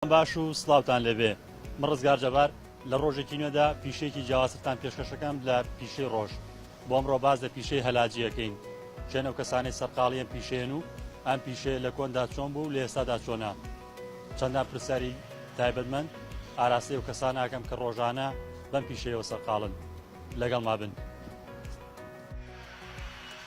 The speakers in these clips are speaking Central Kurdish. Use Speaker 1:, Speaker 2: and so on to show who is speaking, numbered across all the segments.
Speaker 1: باش و سڵاوتان لەبێ من ڕزگار جەبار لە ڕۆژێکی نوێدا پیشەیەکی جیاوازتان پێشکەشەکەم لە پیشەی ڕۆژ بۆ ئەمڕۆ باز لە پیشەی هەلاجیەکەین چێن ئەو کەسانی سەرقاڵیان پیشێن و ئەم پیشەیە لە کۆندا چۆن بوو لە ئێستادا چۆنا چەندان پرسیاری تایبەتمەند ئاراسی و کەسان ئاکەم کە ڕۆژانە بەم پیشەیەوە سەرقاڵن لەگەڵ ما بن.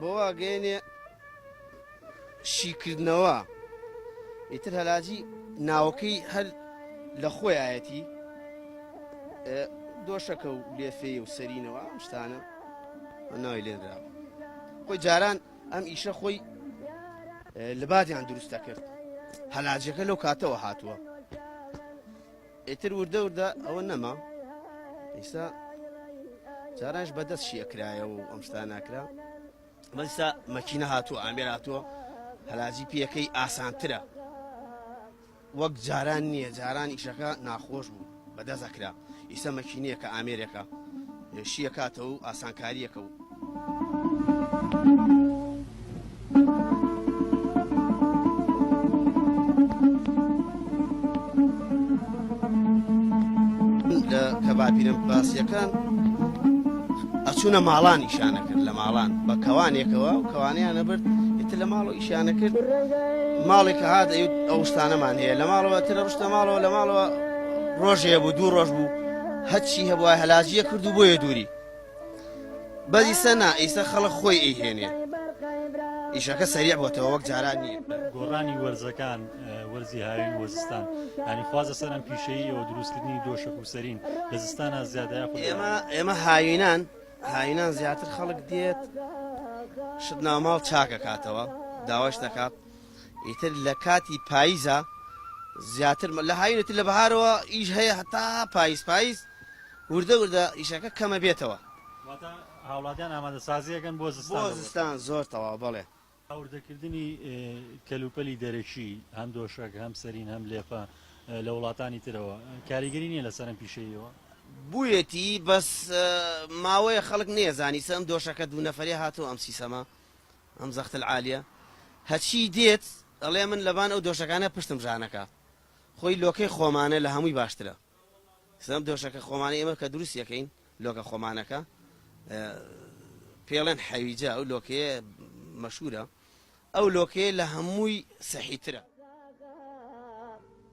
Speaker 2: بۆ واگەێنێ شیکردنەوە ئیتر هەلاجی ناوەکەی هەر لە خۆیایەتی دۆشەکە و لێفێ و سەرینەوە ئەم شتانە ناوی لێنراوە خۆی جاران ئەم ئیشە خۆی لەباتیان دروستە کرد هەلاجەکە لەو کاتەوە هاتووە ئیتر وردە وردە ئەوە نەما ئیستا جارانش بەدەست شی ئەکرایەوە و ئەم شتا ناکرا بەستا مەکینە هاتووە ئامێر هاتووە هەلاجی پێەکەی ئاسانترە وەک جاران نییە جاران ئیشەکە ناخۆش بوو بەدەست ئەکرا ئیسە مەکینەیە کە ئامێرەکە شیەکاتەوە و ئاسانکاریەکە کەبابینم باسیەکان ئەچوونە ماڵان ئیشانە کرد لە ماڵان بە کەوانێکەوە و کەوانیان نەبرد ئیتر لە ماڵ و ئیشانە کرد ماڵێک هاات ئەو شتانەمان هەیە لە ماڵەوە ترە ڕشتە ماڵەوە لە ماڵەوە ڕۆژەیە بوو دوو ڕۆژ بوو هەچی هەبوایە هەلاجیە کرد و بۆیە دووری بەس ئیسە نا ئیسە خەڵک خۆی ئەیهێنێ ئیشەکە سەریع بۆتەوە وەک جاران نیە گۆڕانی وەرزەکان
Speaker 1: وەرزی هاوین وەزستان هەنی خوازە سەرم پیشەیە و دروستکردنی دۆشک و سەرین لە زستانە زیادە ئێمە ئێمە
Speaker 2: هاوینان هاوینان زیاتر خەڵک دێت شت ناماڵ چاکە کاتەوە داواش دەکات ئیتر لە کاتی پایزا زیاتر لە هاوین ئیتر لە بەهارەوە ئیش هەیە هەتا پایز پایز وردە وردە ئیشەکە کەمە بێتەوە. واتە هاوڵاتیان
Speaker 1: ئامادە سازی ئەکەن بۆ زستان دەوڵەتەوە؟ بۆ زستان زۆر
Speaker 2: تەواو بەڵێ. هاوردە کردنی
Speaker 1: کەلوپەلی دەرەکی هەم دۆشەک هەم سەرین هەم لێفە لە وڵاتانی ترەوە کاریگەری نیە لە سەرم پیشەییەوە؟ بویەتی
Speaker 2: بەس ماوەیە خەڵک نەیەزانی سەم دۆشەکە دوو نەفەرێ هاتوە ئەم سیسەمە ئەم زەخت العالیە هەچی دێت ئەڵێ من لەبان ئەو دۆشەکانە پشتم ژانەکا خۆی لۆکەی خۆمانە لە هەمووی باشترە سەم دۆشەکە خۆمانی ئێمە کە دروست یەکەین لۆکە خۆمانەکە پێڵێن حەویجە ئەو لۆکەیە مەشورە ئەو لۆکەیە لە هەمووی سەحیترە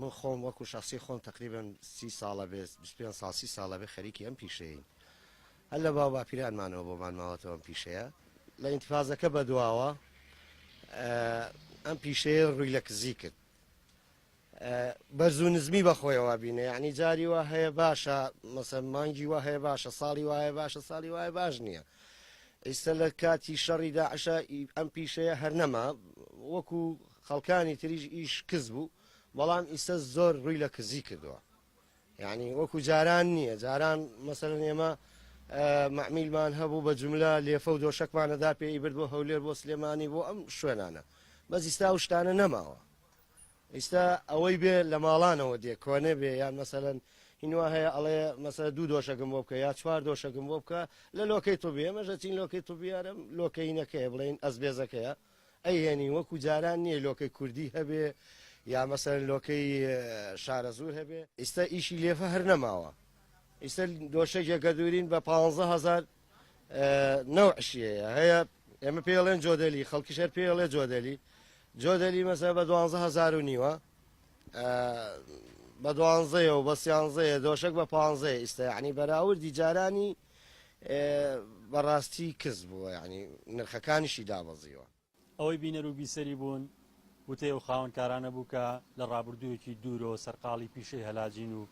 Speaker 3: من خۆم وەکو شەخسی خۆم تەقریبەن سی ساڵە بێ بیست پێنج ساڵ سی ساڵە بێ خەریکی ئەم پیشەیەین هەر لە باو باپیرانمانەوە بۆمان ماوەتەوە ئەم پیشەیە لە ئینتفازەکە بەدواوە ئەم پیشەیە ڕووی لە کزی کرد بەرزو نزمی بەخۆیەوە بینە یعنی جاری وە هەیە باشە مەسە مانگی وە هەیە باشە ساڵی وایە باشە ساڵی وایە باش نییە ئیستا لە کاتی شەڕیدا عشە ئەم پیشەیە هەر نەما وەکو خەڵکانی تریش ئیش کز بوو بەڵام ئیسە زۆر ڕووی لە کزی کردووە یعنی وەکو جاران نییە جاران مەسەرن ئێمە معمیلمان هەبوو بە جملە لێفە و دۆشەکمانەدا پێی برد بۆ هەولێر بۆ سلێمانی بۆ ئەم شوێنانە بەزیستا و شتانە نەماوە ئیستا ئەوەی بێ لە ماڵانەوە دێ کۆنێ بێ یان مەسەن هینوا هەیە ئەڵێ مەسە دوو دۆشەکەم بۆ بکە یا چوار دۆشەکەم بۆ بکە لە لۆکەی تو بێ مەژە چین لۆکەی تو بیارم لۆکەینەکەی بڵێن ئەس بێزەکەیە ئەیهێنین وەکو جاران نیە لۆکەی کوردی هەبێ یا مەسەلەن لۆکەی شارەزور هەبێ. ئیستا ئیشی لێفە هەر نەماوە ئیستا دۆشەگێ گەدورین بە پانزە هەزار نەوع شیەیە هەیە ئێمە پێی ئەڵێن جۆدەلی خەڵکیش هەر پێی ئەڵێ جۆدەلی جۆدەلی مەسە بە دوانزە هەزار و نیوە بە دوانزەیە و بە سیانزەیە دۆشەک بە پانزەیە ئیستا یعنی بەراوردی جارانی بەڕاستی کز بووە یانی نرخەکانیشی دابەزیوە. ئەوەی بینەر و
Speaker 1: بیسەری بوون وتەی ئەو خاوەنکارانە بوو کە لە ڕابردوویەکی دوورەوە سەرقاڵی پیشەی هەلاجین و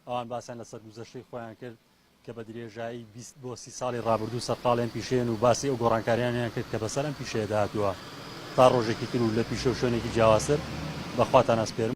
Speaker 1: ئەوان باسیان لە سەرگوزەشتەی خۆیان کرد کە بە درێژایی بیست بۆ سی ساڵی ڕابردوو سەرقاڵی ئەم پیشەیەن و باسی ئەو گۆڕانکاریانەیان کرد کە بەسەر ئەم پیشەیەدا هاتووە تا ڕۆژێکی تر و لە پیشە و شوێنێکی جیاوازتر بە خواتان ئەسپێرم.